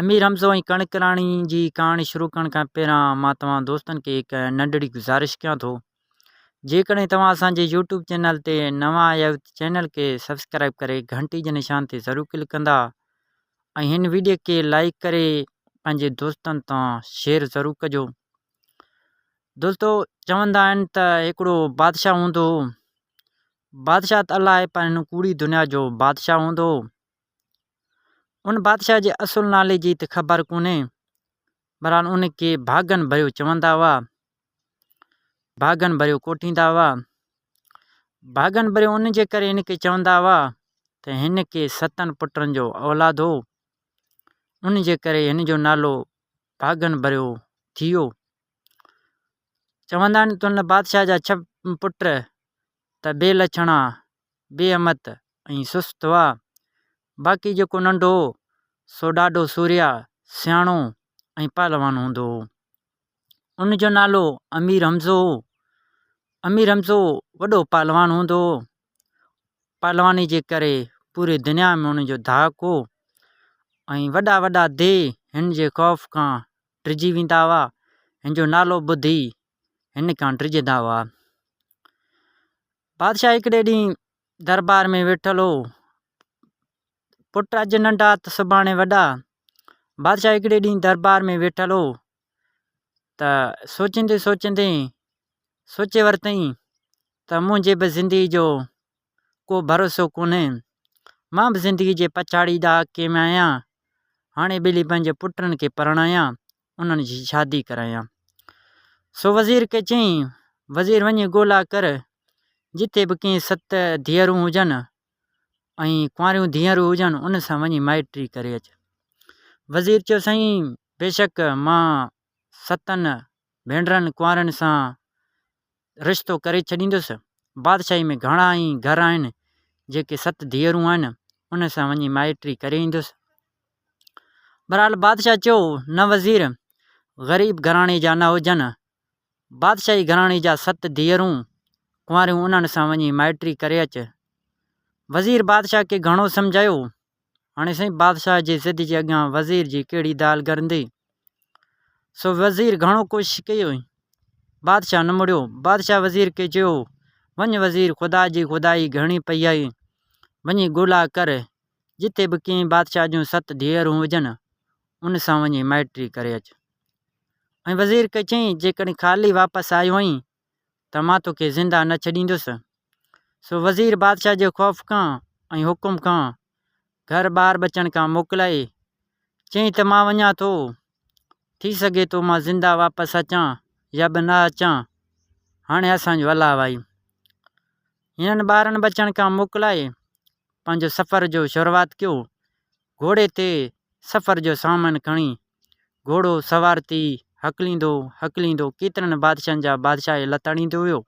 امير حمزو ۽ ڪڻڪ راڻي جي ڪهاڻي شروع ڪرڻ کان پهريان مان توهان دوستن کي هڪ ننڍڙي گذارش ڪيان ٿو جيڪڏهن توهان اسان جي يوٽيوب چينل تي نوان آيا آهيو ته چينل کي سبسڪرائب ڪري گهنٽي جي نشان تي ضرور ڪلڪ ڪندا ۽ هن ويڊيو کي لائڪ ڪري پنهنجي دوستن تان شيئر ضرور ڪجو دوستو چوندا آهن ته هڪڙو بادشاهه هوندو هو بادشاهه ته الاهي پر هن ڪوڙي دنيا جو بادشاهه هوندو هو ان بادشاهه جي اصل نالي جي ته خبر ڪونهي، بهرحال ان کي ڀاڳن ڀريو چوندا هئا. ڀاڳن ڀريو ڪوٺيندا هئا. ڀاڳن ڀريو ان جي ڪري هن کي چوندا هئا ته هن کي ستن پٽن جو اولاد هو، ان جي ڪري هن جو نالو ڀاڳن ڀريو ٿي ويو. چوندا آهن ته ان بادشاهه جا ڇهه پٽ ته بي لڇڻا، بي امت ۽ سست هئا. باقي جيڪو ننڍو هو، سو ڏاڍو سورهيا، سياڻو ۽ پهلوان هوندو هو. ان جو نالو امير حمزو هو. امير حمزو وڏو پهلوان هوندو هو. پهلواني جي ڪري پوري دنيا ۾ هن جو ڌاڪ هو ۽ وڏا وڏا ديهه هن جي خوف کان ڊڄي ويندا هئا. هن جو نالو ٻڌي هن ڪانٽري جي دعويٰ بادشاهه هڪڙي ڏينهن دربار ۾ ويٺل هو پٽ اڄ ننڍا ته سڀاڻي وڏا بادشاهه هڪڙي ڏينهن دربار ۾ ويٺل هو ته سوچيندي سوچيندي سوچي ورتئين ته منهنجي به زندگي جو ڪو ڀروسو ڪونهي مان به زندگي جي پڇاڙي ڏاهه ڪيم آهيان هاڻي ٻلي پنهنجي پٽن کي پرڻايان انهن جي شادي ڪرايان. سو وزير کي چيائين، وزير وڃي ڳولا ڪر، جتي به ڪنهن ست ڌيئرون هجن ۽ ڪنواريون ڌيئرون هجن، انهن سان وڃي مائٽي ڪري اچ. وزير چيو، سائين، بيشڪ مان ستن ڀينرن ڪنوارين سان رشتو ڪري ڇڏيندس. بادشاهيء ۾ گهڻا ئي گهر آهن، جيڪي ست ڌيئرون آهن، انهن سان وڃي مائٽي ڪري ايندس. بهرحال بادشاهه چيو، نه وزير، غريب گهراڻي جا نه هجن. بادشاهي گهراڻي جا ست ڌيئرون ڪنواريون انهن سان وڃي مائٽي ڪري اچ. وزير بادشاهه کي گهڻو سمجهايو، هاڻي سائين بادشاهه جي زد جي اڳيان وزير جي ڪهڙي دال گرندي؟ سو وزير گهڻو ڪوشش ڪئي هئي. بادشاهه نه مڙيو. بادشاهه وزير کي چيو، وڃ وزير خدا جي خدائي گهڻي پئي آهي. وڃي ڳولا ڪر. جتي به ڪنهن بادشاهه جون ست ڌيئرون هجن، ان سان وڃي مائٽري ڪري اچ. ۽ وزير کي چيائين، جيڪڏهن خالي واپس آيو آهين، ته مان توکي زنده نه ڇڏيندس. سو وزير بادشاهه جي خوف کان ۽ حڪم کان گهر ٻاهر ٻچڻ کان موڪلائي چيائين ته مان وڃان ٿو، ٿي سگهي ٿو مان زنده واپس اچان يا به نه اچان، هاڻي اسان جو الاء آهي. هنن ٻارن ٻچڻ کان موڪلائي پنهنجو سفر جو شروعات ڪيو گهوڙي تي سفر جو سامان کڻي، گهوڙو سوار ٿي هڪليندو هڪليندو ڪيترن بادشاهن جا بادشاهي لتاڙيندو ويو.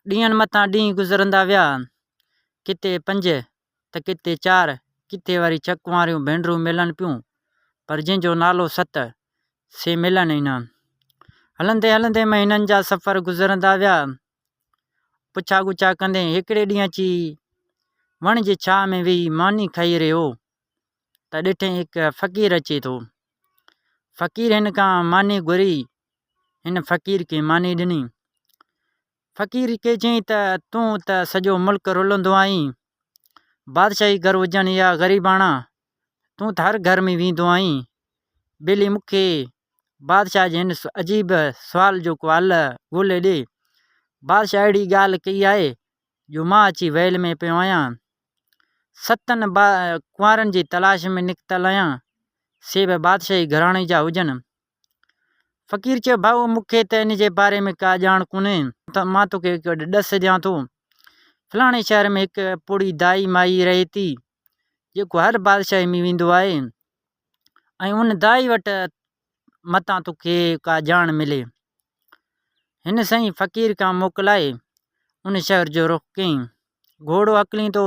ڏينهن مٿان ڏينهن گذرندا ويا. ڪٿي پنج ته ڪٿي چار، ڪٿي وري ڇهه ڪنواريون ڀينرون ملن پيون، پر جنهن جو نالو ست، سي ملن ئي نه. هلندي هلندي مهينن جا سفر گذرندا ويا. پڇا ڳڇا ڪندي هڪڙي ڏينهن اچي وڻ جي ڇانء ۾ ويهي ماني کائي رهيو هو ته ڏٺئي هڪ فقير اچي ٿو. فقير هن کان ماني گهري. هن فقير کي ماني ڏني. فقير کي چيائين ته تون ته سڄو ملڪ رلندو آهين. بادشاهي گهر هجڻ يا غريباڻا تون ته هر گهر ۾ ويندو آهين. ٻلي مکي بادشاهه جي هن عجيب سوال جو ڪو حل ڳولي ڏي. بادشاهه اهڙي ڳالهه ڪئي آهي جو مان اچي ويل ۾ پيو آهيان. ستن ڪنوارن جي تلاش ۾ نڪتل آهيان. سي به بادشاهي گهراڻي جا هجن. فقير چيو، ڀاء مون کي ته ان جي باري ۾ ڪا ڄاڻ ڪونهي، مان توکي هڪ ڏس ڏيان ٿو. فلاڻي شهر ۾ هڪ پوڙهي دائي مائي رهي ٿي، جيڪو هر بادشاهيء ۾ ويندو آهي ۽ ان دائي وٽ متان توکي ڪا ڄاڻ ملي. هن سائين فقير کان موڪلائي ان شهر جو رخ ڪيائين. گهوڙو هڪليندو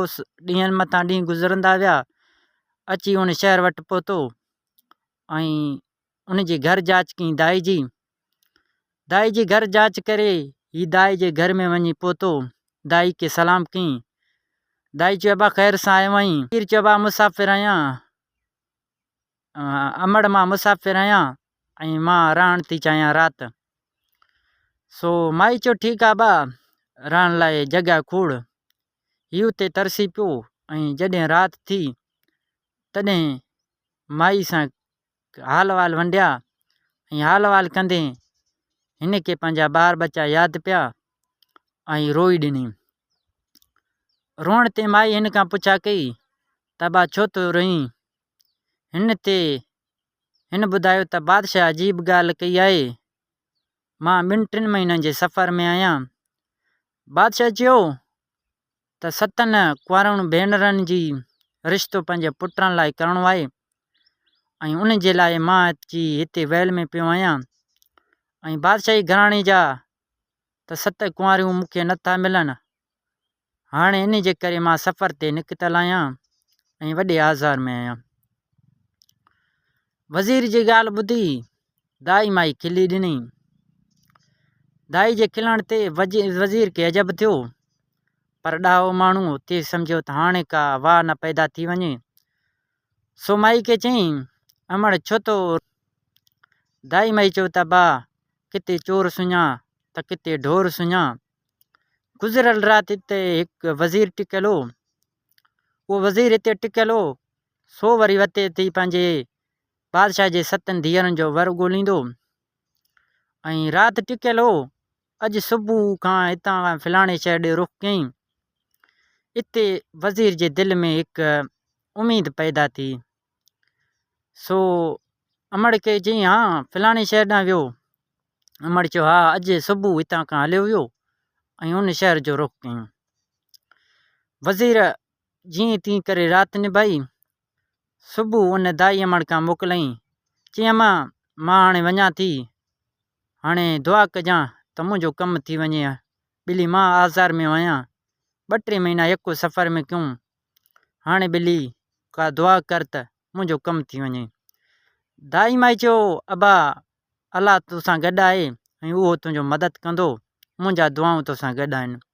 ڏينهن مٿان ڏينهن گذرندا ويا، اچي ان شهر وٽ پهتو. ان جي گھر جاچ ڪئي دائي جي دائي جي گھر جاچ ڪري ھي دائي جي گھر ۾ وڃي پھتو دائي کي سلام ڪئي دائي چيو ابا خير سان آيو آھين فقير چيو ابا مسافر آھيان امڙ مان مسافر آھيان ۽ مان رھڻ ٿي چاھيان رات سو مائي چيو ٺيڪ آ ابا رھڻ لاء جڳھه کوڙ هي اتي ترسي پيو ۽ جڏهن رات ٿي تڏهن مائي سان حال احوال ونڊيا ۽ حال احوال ڪندي هن کي پنهنجا ٻار ٻچا ياد پيا ۽ روئي ڏني روئڻ تي مائي هن کان پڇا ڪئي ته با ڇو ٿو روئين هن تي هن ٻڌايو ته بادشاهه عجيب ڳالهه ڪئي آهي مان ٻن ٽن مهينن جي سفر ۾ آهيان بادشاهه چيو ته ستن ڪنوارن ڀينرن جي رشتو پنهنجي پٽن لاء ڪرڻو آهي ۽ ان جي لاء مان اچي هتي ويل ۾ پيو آهيان ۽ بادشاهي گهراڻي جا ته ست ڪنواريون مون کي نه ٿا ملن هاڻي ان جي ڪري مان سفر تي نڪتل آهيان ۽ وڏي آزار ۾ آهيان وزير جي ڳالهه ٻڌي دائي مائي کلي ڏني. دائي جي کلڻ تي وزير کي عجب ٿيو، پر ڏاهو ماڻهو تيز سمجهيو ته هاڻي ڪا واء نه پيدا ٿي وڃي، سو مائي کي چيائين، امڙ ڇو ٿو روئين؟ دائي مائي چيو ته ابا ڪٿي چور سڃان ته ڪٿي ڍور سڃان. گذريل رات هتي هڪ وزير ٽڪيل هو. اهو وزير هتي ٽڪيل هو، سو وري وتي اٿي پنهنجي بادشاهه جي ستن ڌيئرن جو ور ڳوليندو ۽ رات ٽڪيل هو اڄ صبح کان هتان کان فلاڻي شهر ڏي رخ ڪيائين اتي وزير جي دل ۾ هڪ اميد پيدا ٿي سو امڙ کي چيائين ها فلاڻي شهر ڏانهن ويو امڙ چيو ها اڄ صبح هتان کان هليو ويو ۽ ان شهر جو رخ ڪيائين وزير جيئن تيئن ڪري رات نڀائي، صبح ان دائي امڙ کان موڪليائين، چيائين اما مان هاڻي وڃان ٿي، هاڻي دعا ڪجان ته منهنجو ڪم ٿي وڃي ها ٻلي مان آزار ۾ هئيان، ٻه ٽي مهينا يڪو سفر ۾ ڪيون، هاڻي ٻلي ڪا دعا ڪر ته منهنجو ڪم ٿي وڃي. دائي مائي چيو ابا الله توسان گڏ آهي ۽ اهو تنهنجو مدد ڪندو، منهنجا دعائون توسان گڏ آهن.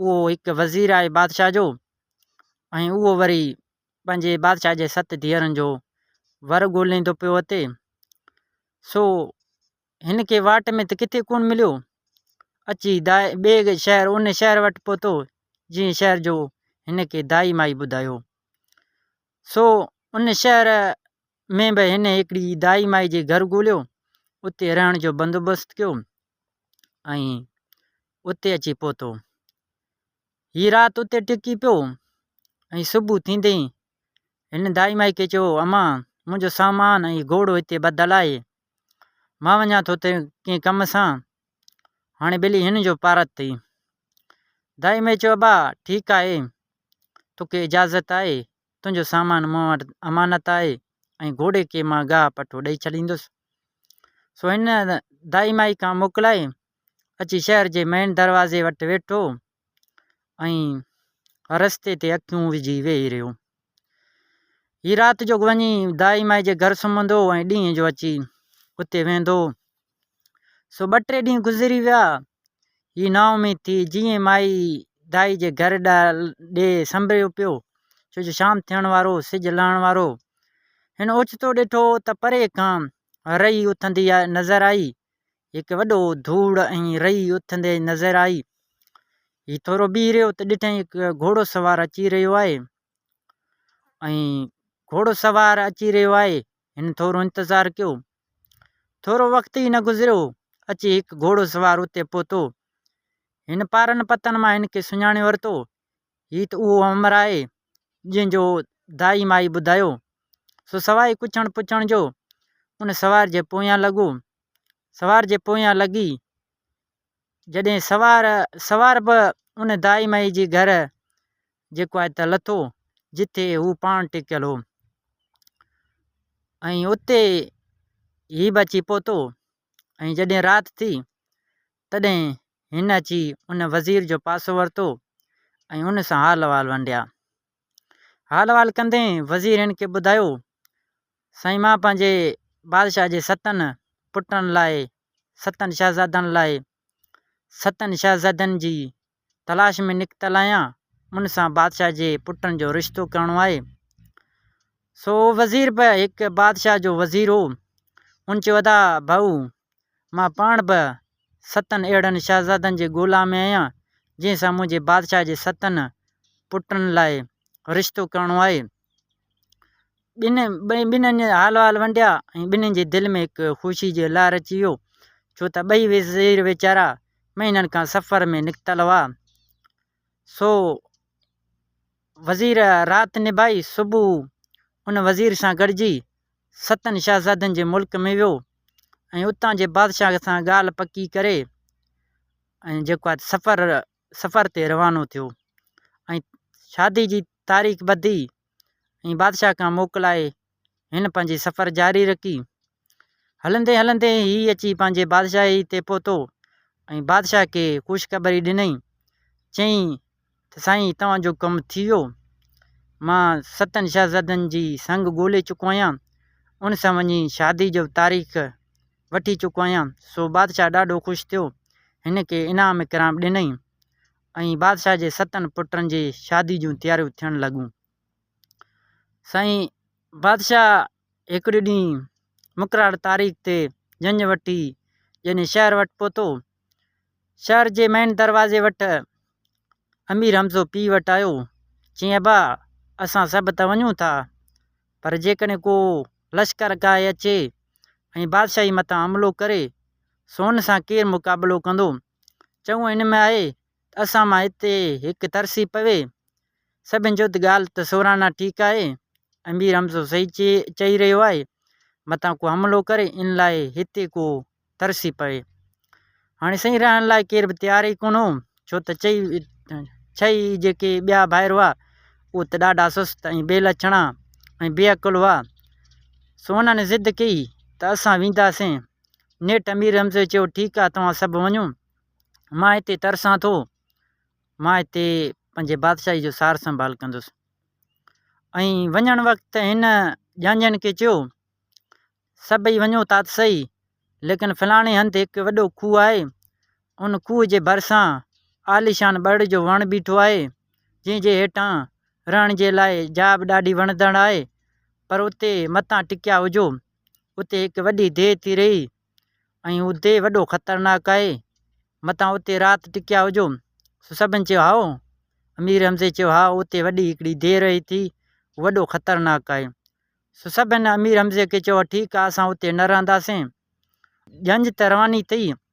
اهو هڪ وزير آهي بادشاهه جو ۽ اهو وري پنهنجي بادشاهه جي ست ڌيئرن جو ور ڳوليندو پيو اچي سو هن کي واٽ ۾ ته ڪٿي ڪونه مليو اچي دا ٻئي شهر ان شهر وٽ پهتو جنهن شهر جو هن کي دائي مائي ٻڌايو سو ان شهر ۾ به هن هڪڙي دائي مائي جي گهر ڳوليو اتي رهڻ جو بندوبست ڪيو ۽ اتي اچي پهتو. هيء رات اتي ٽڪي پيو ۽ صبح ٿيندي ئي هن دائي مائي کي چيو، امان، منهنجو سامان ۽ گهوڙو هتي ٻڌل آهي. مان وڃان ٿو ڪنهن ڪم سان. هاڻي ٻلي هن جو پارت ٿي. دائي مائي چيو، ابا، ٺيڪ آهي. توکي اجازت آهي. تنهنجو سامان مون وٽ امانت آهي ۽ گهوڙي کي مان گاهه پٺو ڏئي ڇڏيندس. سو هن دائي مائي کان موڪلائي اچي شهر جي مين دروازي وٽ ويٺو ۽ رستي تي اکيون وجهي ويهي رهيو. هي رات جو وڃي دائي مائي جي گهر سمهندو ۽ ڏينهن جو اچي اتي ويهندو. سو ٻه ٽي ڏينهن گذري ويا. هي نااميد ٿي جيئن مائي دائي جي گهر ڏي سنبريو پيو، ڇو جو شام ٿيڻ وارو هو، سج لهڻ وارو هو. هن اوچتو ڏٺو ته پري کان رئي اٿندي نظر آئي هڪ وڏو ڌوڙ ۽ رئي اٿندي نظر آئي. هي ٿورو بيهي رهيو ته ڏٺائين هڪ گهوڙو سوار اچي رهيو آهي ۽ گهوڙو سوار اچي رهيو آهي هن ٿورو انتظار ڪيو ٿورو وقت ئي نه گذريو اچي هڪ گهوڙو سوار اتي پهتو هن پارن پتن مان هن کي سڃاڻي ورتو هي ته اهو امر آهي، جنهن جو دائي مائي ٻڌايو. سو سواء ڪڇڻ پڇڻ جو ان سوار جي پويان لڳو. سوار جي پويان لڳي جڏهن سوار سوار به ان دائي مائي جي گهر جيڪو آهي ته لٿو، جتي هو پاڻ ٽڪيل هو. ۽ اتي هي به اچي پهتو ۽ جڏهن رات ٿي تڏهن هن اچي ان وزير جو پاسو ورتو ۽ هن سان حال احوال ونڊيا. حال احوال ڪندي وزير هن کي ٻڌايو، سائين مان پنهنجي بادشاهه جي ستن پٽن لاء، ستن شهزادن لاء، ستن شهزادين جي تلاش ۾ نڪتل آهيان، ان سان بادشاهه جي پٽن جو رشتو ڪرڻو آهي. سو اهو وزير به هڪ بادشاهه جو وزير هو. هن چيو، ادا ڀائو، مان پاڻ به ستن اهڙن شهزادن جي ڳولا ۾ آهيان، جنهن سان منهنجي بادشاهه جي ستن پٽن لاء رشتو ڪرڻو آهي. ٻنهي جا حال وال ونڊيا ۽ ٻنهي جي دل ۾ هڪ خوشي جو لهر اچي ويو ڇو ته ٻئي وزير ويچارا مهينن کان سفر ۾ نڪتل هئا سو وزير رات نڀائي صبح ان وزير سان گڏجي ستن شهزادن جي ملڪ ۾ ويو ۽ اتان جي بادشاهه سان ڳالهه پڪي ڪري ۽ جيڪو سفر سفر تي روانو ٿيو ۽ شادي جي تاريخ ٻڌي ۽ بادشاهه کان موڪلائي هن پنهنجي سفر جاري رکي. هلندي هلندي هي اچي پنهنجي بادشاهي تي پهتو ۽ بادشاهه کي خوشخبري ڏنائين. چيائين ته سائين توهان جو ڪم ٿي ويو. مان ستن شهزادن جي سڱ ڳولي چڪو آهيان. ان سان وڃي شادي جو تاريخ وٺي چڪو آهيان. سو بادشاهه ڏاڍو خوش ٿيو. هن کي انعام اڪرام ڏنائين. ۽ بادشاهه جي ستن پٽن جي شادي جون تياريون ٿيڻ لڳون. سائين بادشاهه هڪڙي ڏينهن مقرر تاريخ تي جنج وٺي ڄڃ شهر وٽ پهتو. شهر جي مين دروازي وٽ امير حمزو پيء وٽ آيو، چيائين ابا اسان سڀ ته وڃون ٿا، پر جيڪڏهن ڪو لشڪر ڪاهي اچي ۽ بادشاهي مٿان حملو ڪري، سو ان سان ڪير مقابلو ڪندو؟ چڱو هن ۾ آهي ته اسان مان هتي هڪ ترسي پوي. سڀن چيو ته ڳالهه ته سورانا ٺيڪ آهي. امير حمزو صحيح چئي رهيو آهي. متان ڪو حملو ڪري ان لاء هتي ڪو ترسي پوي. هاڻي سائين رهڻ لاء ڪير به تيار ئي ڪونه هو ڇو ته چئي ڇهه ئي جيڪي ٻيا ڀائر هئا اهي ته ڏاڍا سست ۽ بي لڇڻا ۽ بي عقل هئا سو انهن ضد ڪئي ته اسان وينداسين نيٺ امير حمزي چيو ٺيڪ آ توهان سڀ وڃو مان هتي ترسان ٿو مان هتي پنهنجي بادشاهي جو سار سنڀال ڪندس ۽ وڃڻ وقت هن ڄاڃن کي چيو سڀئي وڃو ٿا ته سهي ليڪن فلاڻي هنڌ هڪ وڏو کوهه آهي ان کوهه جي ڀرسان عاليشان ٻڙ جو وڻ بيٺو آهي جنهن جي هيٺان رهڻ جي لاء جاء به ڏاڍي وڻندڙ آهي پر اتي متان ٽڪيا هجو اتي هڪ وڏي ديهه ٿي رهي ۽ هو ديهه وڏو خطرناڪ آهي متان اتي رات ٽڪيا هجو سو سڀني چيو هائو امير حمزي چيو ها اتي وڏي هڪڙي ديهه رهي ٿي وڏو خطرناڪ آهي سو سڀني امير حمزي کي چيو ٺيڪ آهي اسان اتي نه رهنداسين ڄڃ ته رواني ٿي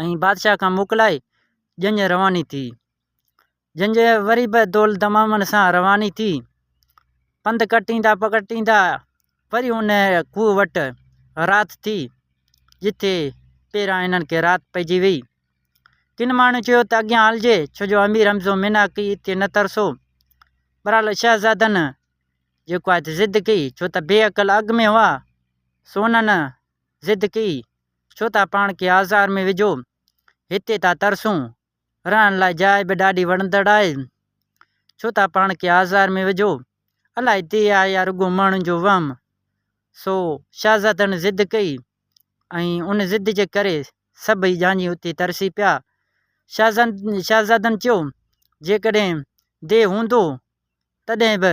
۽ بادشاهه کان موڪلائي ڄڃ رواني ٿي ڄڃ وري به دول دمامن سان رواني ٿي پنڌ ڪٽيندا پڪٽيندا وري ان کوهه وٽ رات ٿي جتي پيران انهن کي رات پئجي وئي ڪن ماڻهن چيو ته اڳيان هلجي ڇو جو امير حمزو ميناڪي اتي نه ترسو برحال شهزادن جيڪو آهي ضد ڪئي ڇو ته بي عقل اڳ ۾ هئا سو انهن ضد ڪئي، ڇو ٿا پاڻ کي آزار ۾ وجهو، هتي ٿا ترسون، رهڻ لاء جاء به ڏاڍي وڻندڙ آهي، ڇو ٿا پاڻ کي آزار ۾ وجهو، الاء ديهه آهي يا رڳو ماڻهن جو وهم. سو شاهزادڻ ضد ڪئي ۽ ان ضد جي ڪري سڀئي ڄاڃي اتي ترسي پيا. شاهزادن چيو، جيڪڏهن ديهه هوندو تڏهن به.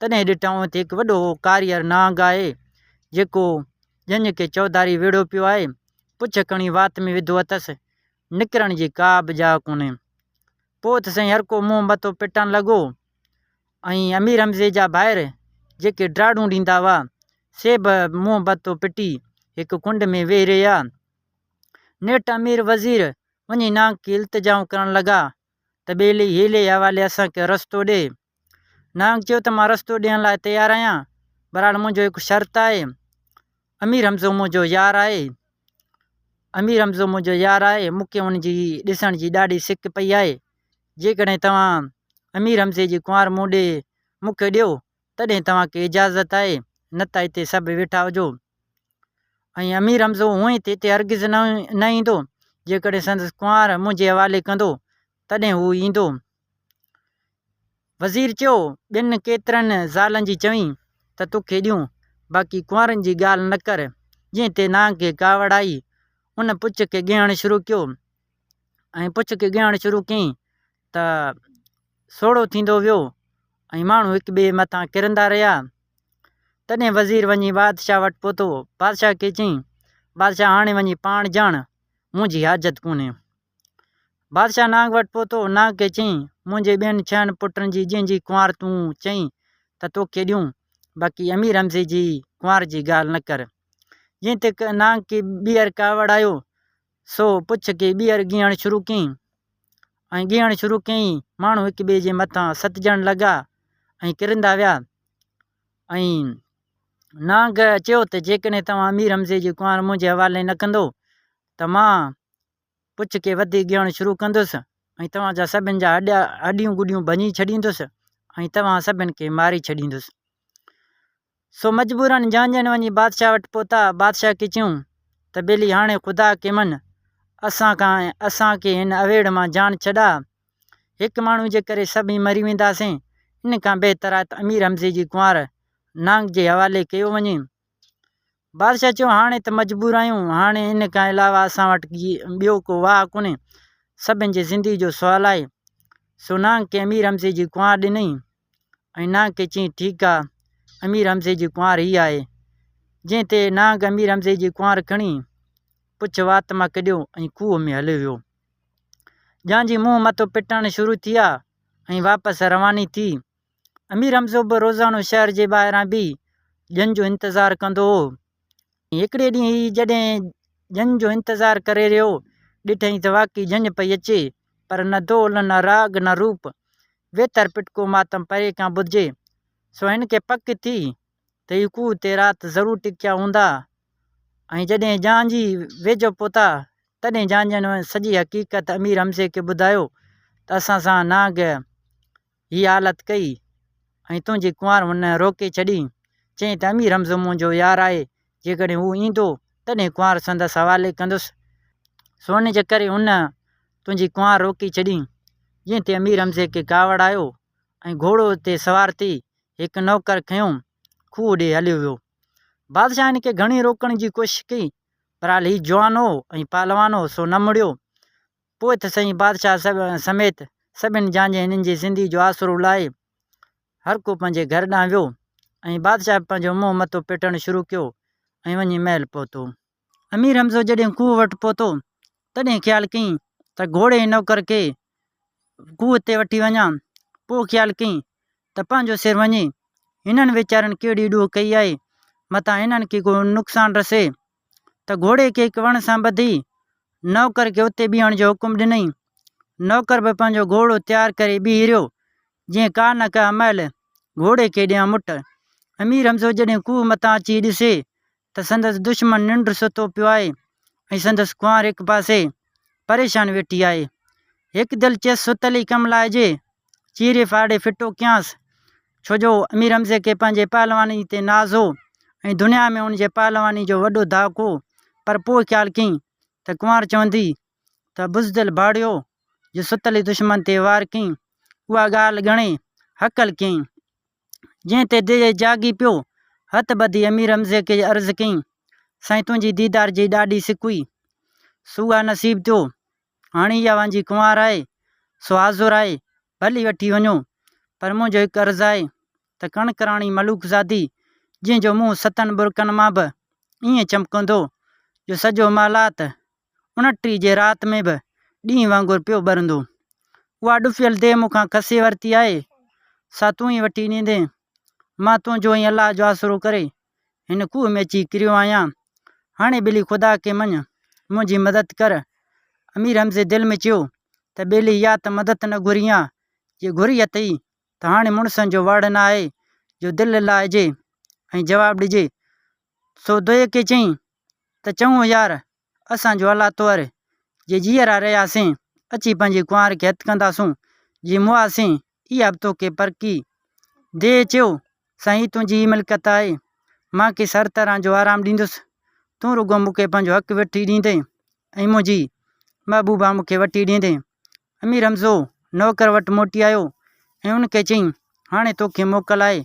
تڏهن ڏٺائون ته هڪ وڏو ڪاريئر نانگ آهي، جيڪو ڄڃ کي چوڌاري ويڙهيو پيو آهي. پڇ کڻي وات ۾ وڌو اٿس، نڪرڻ جي ڪا به جاء ڪونهي. پوء ته سائين هرڪو منهن مٿو پٽڻ لڳو ۽ امير حمزي جا ڀائر جيڪي ڊاڙون ڏيندا هئا، سي به منهن مٿو پٽي هڪ ڪنڊ ۾ ويهي رهيا. نيٺ امير وزير وڃي نانگ کي التجائون ڪرڻ لڳا ته ٻيلي هيلي حوالي اسان کي رستو ڏي. نانگ چيو ته مان رستو ڏيڻ لاء تيار آهيان، بهرحال منهنجو هڪ شرط آهي، امير حمزو منهنجو يار آهي، امير حمزو منهنجو يار آهي، مون کي ان جي ڏسڻ جي ڏاڍي سڪ پئي آهي، جيڪڏهن توهان امير حمزي جي ڪنوار مون ڏي مون کي ڏيو، تڏهن توهان کي اجازت آهي، نه ته هتي سڀ ويٺا هجو. ۽ امير حمزو هونئن هتي تي هرگز نه ايندو، جيڪڏهن سندس ڪنوار منهنجي حوالي ڪندو، تڏهن هو ايندو. وزير چيو، ٻين ڪيترن زالن جي چوين ته توکي ڏيون، باقي ڪنوارن جي ڳالهه نه ڪر. جنهن تي نانگ کي ڪاوڙ آئي، ان پڇ کي ڳهڻ شروع ڪيو ۽ پڇ کي ڳهڻ شروع ڪيائين. ته سوڙهو ٿيندو ويو ۽ ماڻهو هڪ ٻئي مٿان ڪرندا رهيا تڏهن وزير وڃي بادشاهه وٽ پهتو بادشاهه کي چيائين بادشاهه هاڻي وڃي پاڻ ڄاڻ منهنجي حاجت ڪونهي بادشاهه نانگ وٽ پهتو نانگ کي چيائين منهنجي ٻين ڇهن پٽن جي جنهن جي ڪنوار تون چئين ته توکي ڏيون باقي امير حمزي جي ڪنوار جي ڳالهه نه ڪر جنهن تي نانگ کي ٻيهر ڪاوڙ آيو سو پڇ ڪي ٻيهر ڳيهڻ شروع ڪيئين ۽ ڳيهڻ شروع ڪيئين ماڻهو هڪ ٻئي جي مٿان ستجڻ لڳا ۽ ڪرندا ويا ۽ نانگ چيو ته جيڪڏهن توهان امير حمزي جي ڪنوار منهنجي حوالي نه ڪندو ته مان پڇ کي وڌيڪ ڳيهڻ شروع ڪندس ۽ توهان جا سڀني جا هڏيا هڏيون گڏيون ڀڃي ڇڏيندس ۽ توهان سڀني کي ماري ڇڏيندس سو مجبوراً جان ڄڻ وڃي بادشاهه وٽ پهتا. بادشاهه کي چيون ته ٻيلي هاڻي خدا کي مڃ، اسان کان ۽ اسان کي هن اوهيڙ مان جان ڇڏاء. هڪ ماڻهوء جي ڪري سڀئي مري وينداسين. ان کان بهتر آهي ته امير حمزي جي ڪنوار نانگ جي حوالي ڪيو وڃي. بادشاهه چيو هاڻي ته مجبور آهيون. هاڻي ان کان علاوه اسان وٽ ٻيو ڪو واهه ڪونهي. سڀن جي زندگي جو سوال آهي. سو نانگ کي امير حمزي جي ڪنوار ڏنئي. ۽ نانگ کي چيائين، ٺيڪ آ، امير حمزي جي ڪنوار هي آهي. جنهن تي نانگ امير حمزي جي ڪنوار کڻي پڇ وات مان ڪڍيو ۽ کوهه ۾ هليو ويو. جان جي منهن مٿو پٽڻ شروع ٿي آ ۽ واپس رواني ٿي. امير حمزو به روزانو شهر جي ٻاهران بيهي ڄڃ جو انتظار ڪندو هو. هڪڙي ڏينهن هي جڏهن جنهن جو انتظار ڪري رهيو، ڏٺئي ته واقعي جنهن پئي اچي، پر نه دول، نه راڳ، نه روپ، ويتر پٽڪو ماتم پري کان ٻڌجي، سو هن کي پڪ ٿي ته هي کوهه تي رات ضرور ٽڪيا هوندا ۽ جڏهن جهانجي ويجهو پهتا، تڏهن جهانجن سڄي حقيقت امير حمزي کي ٻڌايو ته اسان سان نانگ هيء حالت ڪئي ۽ تنهنجي ڪنوار هن روڪي ڇڏي، چيائين ته امير حمزو منهنجو يار آهي، جيڪڏهن هو ايندو، تڏهن ڪنوار سندس حوالي ڪندس، سو ان جي ڪري هن تنهنجي ڪنوار روڪي ڇڏي. جنهن تي امير حمزي کي ڪاوڙ آيو ۽ گهوڙو تي سوار ٿي هڪ نوڪر کنيو، کوهه ڏي هليو ويو. بادشاهه هن کي گهڻي روڪڻ جي ڪوشش ڪئي، بهرحال هيء جوان هو ۽ پهلوان هو، سو نه مڙيو. پوء ته سائين بادشاهه سڀ سميت سڀني جان جي هنن جي زندگي جو آسرو لاهي هر ڪو پنهنجي گهر ڏانهن ويو ۽ بادشاهه به پنهنجو منهن مٿو پٽڻ شروع ڪيو ۽ وڃي محل پهتو امير حمزو جڏهن کوهه وٽ پهتو تڏهن خيال ڪئين ته گهوڙي ۽ نوڪر کي کوهه تي وٺي وڃان پوء خيال ڪئين ته پنهنجو سر وڃي هنن ويچارن ڪهڙي ڏوهه ڪئي آهي متان هنن کي ڪو نقصان رسي ته گهوڙي کي هڪ وڻ سان ٻڌي نوڪر کي اتي بيهڻ جو حڪم ڏنائين. نوڪر به پنهنجو گهوڙو تيار ڪري بيهي رهيو، جيئن ڪا نه ڪا مئل گهوڙي کي ڏيان مٽ. امير حمزو جڏهن کوهه مٿان اچي ڏسي ته سندس دشمن ننڊ ستو پيو آهي ۽ سندس ڪنوار هڪ پاسي پريشان ويٺي آهي. هڪ دل چيس ستلي ڪم لائجي، چيري ڦاڙي ڦٽو ڪيانس، ڇو جو امير حمزي کي پنهنجي پهلواني تي ناز هو ۽ دنيا ۾ ان جي پهلواني جو وڏو ڌاڪ هو، پر پوء خيال ڪيئي ته ڪنوار چوندي ته بزدل ڀاڙيو جو ستلي دشمن تي وار ڪيئي، اها ڳالهه ڳڻي هڪل ڪيئي. جنهن تي دل جاڳي پيو. هٿ ٻڌي امير حمزي کي عرض ڪيائين، سائين تنهنجي ديدار جي ڏاڍي سڪ هئي، سو آ نصيب ٿيو. هاڻي اها وانجهي ڪنوار آهي، سو حاضر آهي، ڀلي وٺي وڃو. پر منهنجو هڪ عرض آهي ته ڪڻڪ راڻي ملوڪزادي، جنهن جو منهن ستن ٻرڪن مان به ائين چمڪندو، جو سڄو محلات ان ٽي جي رات ۾ به ڏينهن وانگر پيو ٻرندو. اها ڏڦيل ديهه مون کان کسي ورتي آهي، سا تون ئي وٺي ڏيندين. مان تنهنجو ۽ الله جو آسرو ڪري هن کوهه ۾ اچي ڪريو آهيان. هاڻي ٻلي خدا کي مڃ، منهنجي مدد ڪر. امير حمزي دل ۾ چيو ته ٻلي يا ته مدد نه گهرين ها، جي گهري اٿئي ته هاڻي مڙسن جو واڙ نه آهي جو دل لائجي ۽ جواب ڏجي. سو دويڪي چيائين ته چڱو يار، اسان جو الله طور جي جيئرا رهياسين، اچي پنهنجي ڪنوار کي هٿ ڪنداسون، جي موئاسين، اها به توکي پرکي. ديهه چيو، سائين هي تنهنجي ئي ملڪيت آهي، مان کيس هر طرح جو آرام ڏيندس، تون رڳو مون کي پنهنجو حق وٺي ڏيندين ۽ منهنجي محبوبا مون کي وٺي ڏيندين. امير حمزو نوڪر وٽ موٽي آيو ۽ ان کي چيائين، هاڻي توکي موڪل آهي،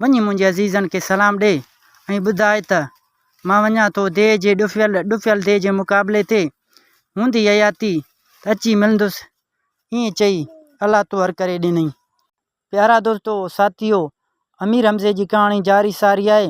وڃي منهنجي عزيزن کي سلام ڏي ۽ ٻڌاء ته مان وڃان ٿو ديهه جي ڏڦيل ڏڦيل ديهه جي مقابلي تي، هوندي حياتي ته اچي ملندس. ائين چئي الله توهر ڪري ڏنائين. پيارا دوستو ساٿيو امير حمزي جي ڪهاڻي جاري ساري آهي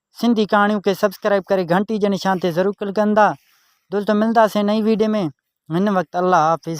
سنڌي ڪهاڻيون کي سبسڪرائب ڪري گهنٽي جي نشان تي ضرور ڪلڪ ڪندا دولت ملداسين نئي ويڊيو ۾ هن وقت الله حافظ.